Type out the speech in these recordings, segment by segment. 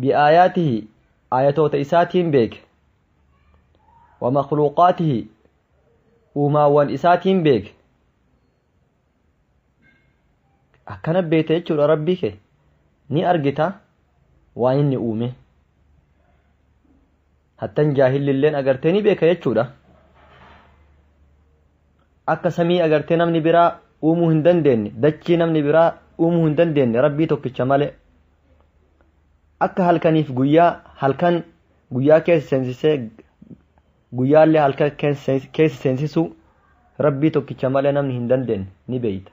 biaayaatihi aayatoota isaatiin beeke wa makhluuqaatihi uumaawwan isaatiin beeke akkana beekta jechuudha rabbii kee ni argita waan inni uume hattan jaahilli illeen agartee ni beeka jechuudha akka samii agartee namni biraa uumuu hin dandeenye dachii namni biraa uumuu hin dandeenye rabbii tokkicha malee akka halkaniif guyyaa halkan guyyaa keessa seensisee guyyaallee halkan keessa seensisuu rabbii tokkicha malee namni hin dandeenye ni beeyta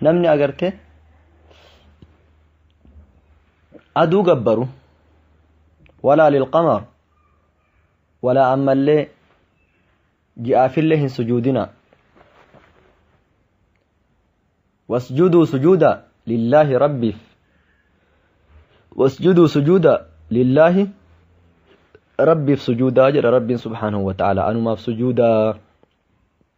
namni agarte aduu gabbaru walaa lilqamar walaa ammallee ji'aafillee hin sujuudina wasjuduu sujuuda lillaahi rabbiif wasjuduu sujuuda lillaahi rabbiif sujuudaa jedha rabbiin subhaanahu wa ta'ala anumaaf sujuudaa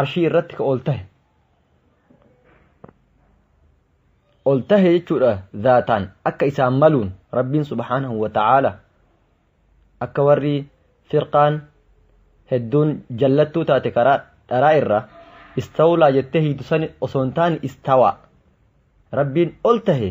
arshii irratti ka ol tahe ol tahe jechuudha zaataan akka isaan maluun rabbiin subhaanahu wa ta'aala akka warri firqaan hedduun jallattuu taate karaa dharaa irraa istawlaa jettee hiitu sani osoo hin taane istawaa rabbiin ol tahe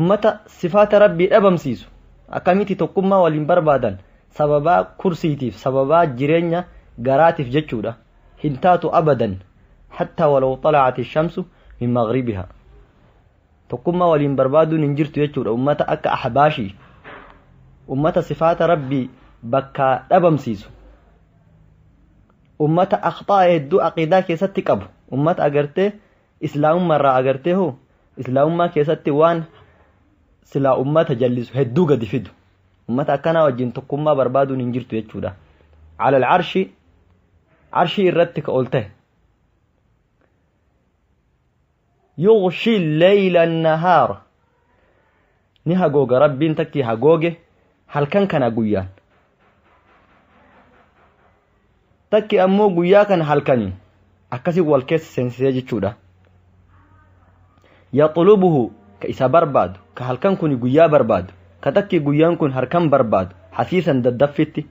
ummata sifaata rabbii dhabamsiisu akkamitti tokkummaa waliin barbaadan sababaa kursiitiif sababaa jireenya garaatiif jechuudha hin taatu abadan hattaa walaw xalacati shamsu min maghribiha tokkummaa waliin barbaaduun hin jirtu jechuudha ummata akka ahbaashii ummata sifaata rabbii bakkaa dhabamsiisu ummata akhxaa hedduu aqiidaa keessatti qabu ummata agartee Islaamummaa irraa agartee hoo islaamummaa keessatti waan silaa ummata jallisu hedduu gadi fidu ummata akkanaa wajjin tokkummaa barbaaduun hin jirtu jechuudha alal arshi arshii irratti ka ol ta'e yughshi leeyla nahaara Ni hagooga Rabbiin takki hagooge halkan kana guyyaan. Takki ammoo guyyaa kana halkaniin akkasii wal keessa seensisee jechuudha. Yaxulubuhu ka isa barbaadu ka halkan kun guyyaa barbaadu ka takki guyyaan kun halkan barbaadu hasiisan daddaffitti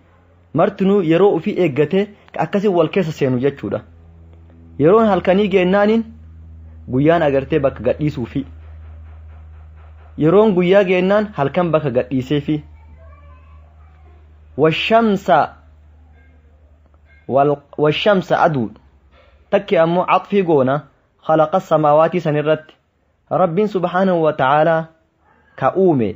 martinuu yeroo ufii eeggatee ka akkasiin wal keessa seenu jechuudha. Yeroon halkanii geennaaniin guyyaan agartee bakka gadhiisuufii. Yeroon guyyaa geennaan halkan bakka gadhiiseefii. Washamsa washamsa aduu takki ammoo caxfii goona khalaqa samaawaatii sanirratti rabbiin subhaanahu wa ta'aalaa ka uume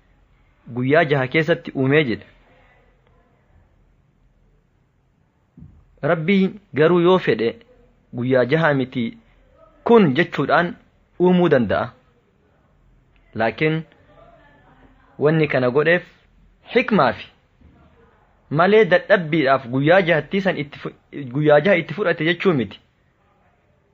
guyyaa jaha keessatti uumee jedhe rabbiin garuu yoo fedhe guyyaa jaha miti kun jechuudhaan uumuu danda'a laakiin wanni kana godheef hikmaafi malee dadhabbiidhaaf guyyaa jahattii san itti guyyaa jaha itti fudhate jechuu miti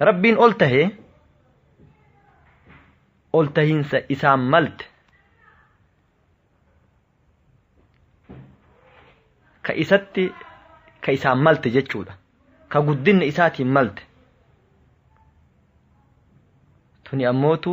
Rabbiin ol tahe ol tahinsa isaan malte ka isatti ka isaan malte jechuudha ka guddinna isaatiin malte tuni ammootu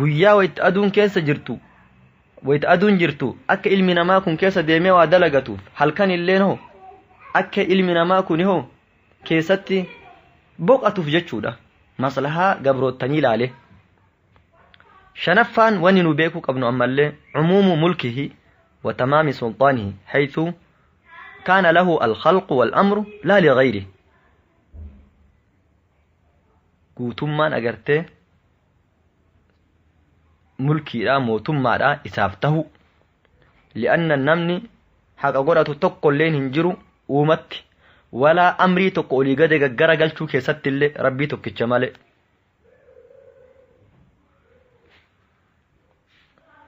guyyaa wayta aduun keessa jirtu wayta aduun jirtu akka ilmi namaa kun keessa deemee waa dalagatuuf halkan illeen hoo akka ilmi namaa kun hoo keessatti boqatuuf jechuudha maslahaa gabroottanii laale shanaffaan wanni nu beekuu qabnu ammallee cumuumu mulkihi wa tamaami sulxaanihi haythu kaana lahu alkhalqu walamru laa ligayrihi guutummaan agartee mulkiidha mootummaadha isaaf tahu li'anna namni haqa godhatu tokkolleen hin jiru uumatti walaa amrii tokko olii gade gaggara galchuu keessatti illee rabbii tokkicha malee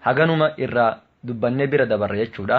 haganuma irraa dubbannee bira dabarre jechuudha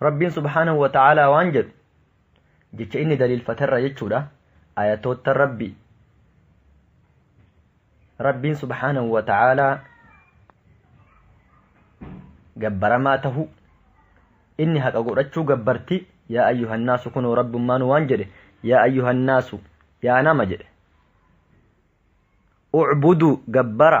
rabbiin subhaanahu wa ta'aalaa waan jedhu jecha inni daliilfaterra jechuudha ayatoota rabbi rabbiin subhaanahu wa ta'aalaa gabbaramaa tahu inni haqa godhachuu gabbarti yaa ayyuhannaasu kunoo rabbummaan waan jedhe yaa ayyuhannaasu yaa nama jedhe ucbuduu gabbara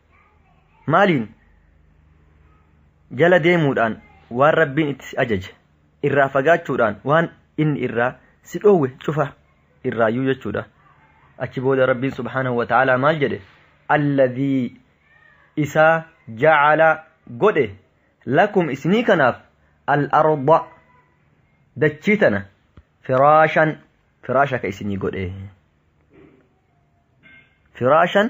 maaliin jala deemuudhaan waan rabbiin itti si ajaje irraa fagaachuudhaan waan inni irraa si dhoowwe cufa irraayyuu jechuudha achi booda rabbiin subhaanahu wa ta'aalaa maal jedhe alladhii isaa jacala godhe lakum isinii kanaaf al-arda dachii tana firaashan firaasha ka isinii godhe firaashan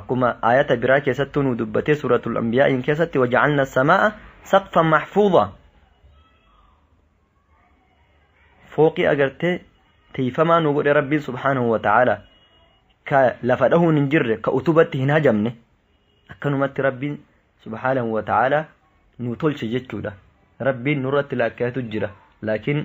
akkuma aayata biraa keessattuu nu dubbatee suuratul anbiyaa'iin keessatti waja'alna samaa'a saqfan maxfuudha fooqii agartee tiifamaa nu godhe rabbiin subhaanahu wa ta'aala ka lafa dhahuun hin jirre ka utubatti hin hajamne akkanumatti rabbiin subhaanahu wa ta'aala nu tolche jechuudha rabbiin nurratti laakkayatu jira laakiin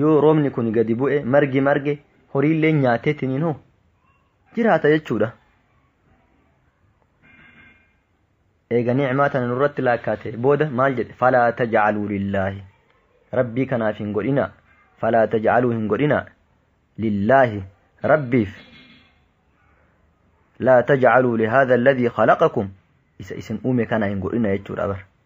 yoo roobni kun gadi bu'e margi marge horiillee nyaateetiniin hoo jiraata jechuudha. Eega ni'maa tana nurratti laakkaate booda maal jedhe falaa taj'aluu lillaahi rabbii kanaaf hin godhinaa falaa taj'aluu hin godhinaa lillaahi rabbiif laa taj'aluu lihaadha alladhii khalaqakum isa isin uume kana hin godhina jechuudha bara.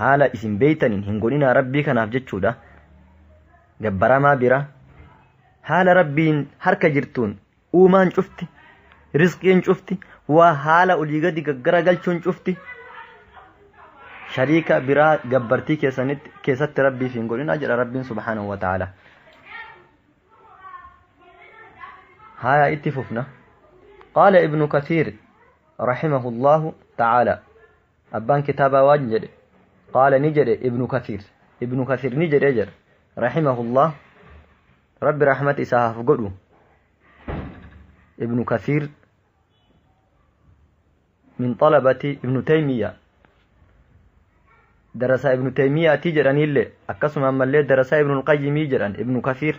haala isin beeytaniin hin godhinaa rabbii kanaaf jechuudha gabbaramaa bira haala rabbiin harka jirtuun uumaan cufti risqiin cufti waa haala olii gadi gaggara galchuun cufti shariika biraa gabbartii keessanitti keessatti rabbiif hin godhinaa jedha rabbiin subhaanahu wa ta'ala haya itti fufna qaala ibnu kasiir rahimahu allahu ta'ala Abbaan kitaabaa waan jedhe qaala ni jedhe ibnu kasiir ibnu kasiir ni jedhe jedha rahimahullah rabbi rahmat isaa haaf godhu ibnu kasiir min xalabati ibnu taymiya darasaa ibnu taymiyaatii jedhaniillee akkasuma ammallee darasaa ibnu qayyimii jedhan ibnu kasiir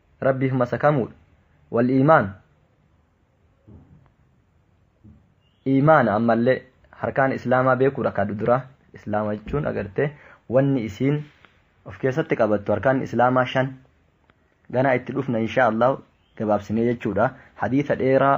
rabbiif masakamuudha wal iimaan iimaana ammallee harkaan islaamaa beekuudha ka duraa islaama jechuun agartee wanni isiin of keessatti qabattu harkaan islaamaa shan ganaa itti dhufna inshaa allah gabaabsinee jechuudha hadiisa dheeraa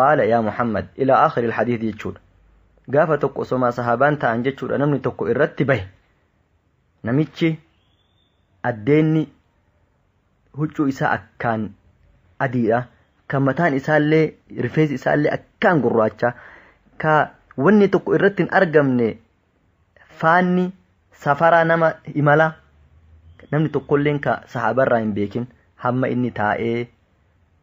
Qaala yaa Muhammad ilaa aakhiril hadiis jechuudha. Gaafa tokko osomaa sahaabaan taa'an jechuudha namni tokko irratti bahe. Namichi addeenni huccuu isaa akkaan adiidha. Kan mataan isaallee rifeensi isaallee akkaan gurraacha. Ka wanni tokko irratti hin argamne faanni safaraa nama imala namni tokkolleen ka sahaabarraa hin beekin hamma inni taa'ee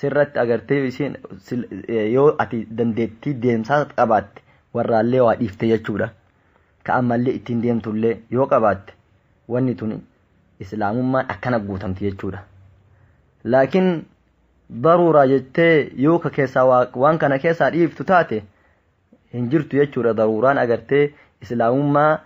sirratti agartee isheen yoo ati dandeettii deemsaa qabaatte warraallee waa dhiifte jechuudha. Ka ammallee ittiin deemtullee yoo qabaatte wanni tuni islaamummaan akkana guutamti jechuudha. Laakiin daruuraa jettee yoo ka keessaa waan kana keessaa dhiiftu taate hin jirtu jechuudha daruuraan agartee islaamummaa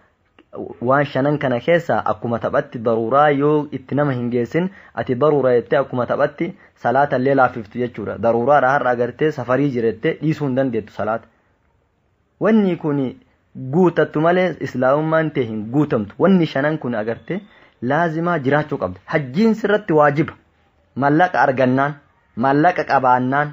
waan shanan kana keessaa akkuma taphatti daruuraa yoo itti nama hin geessin ati daruura jettee akkuma taphatti salaata illee laaffiftu jechuudha daruuraadha har'a agartee safarii jirette dhiisuu hin dandeettu salaata wanni kun guutattu malee islaamummaan tee hin guutamtu wanni shanan kun agartee laazimaa jiraachuu qabda hajjiin sirratti waajiba mallaqa argannaan mallaqa qabaannaan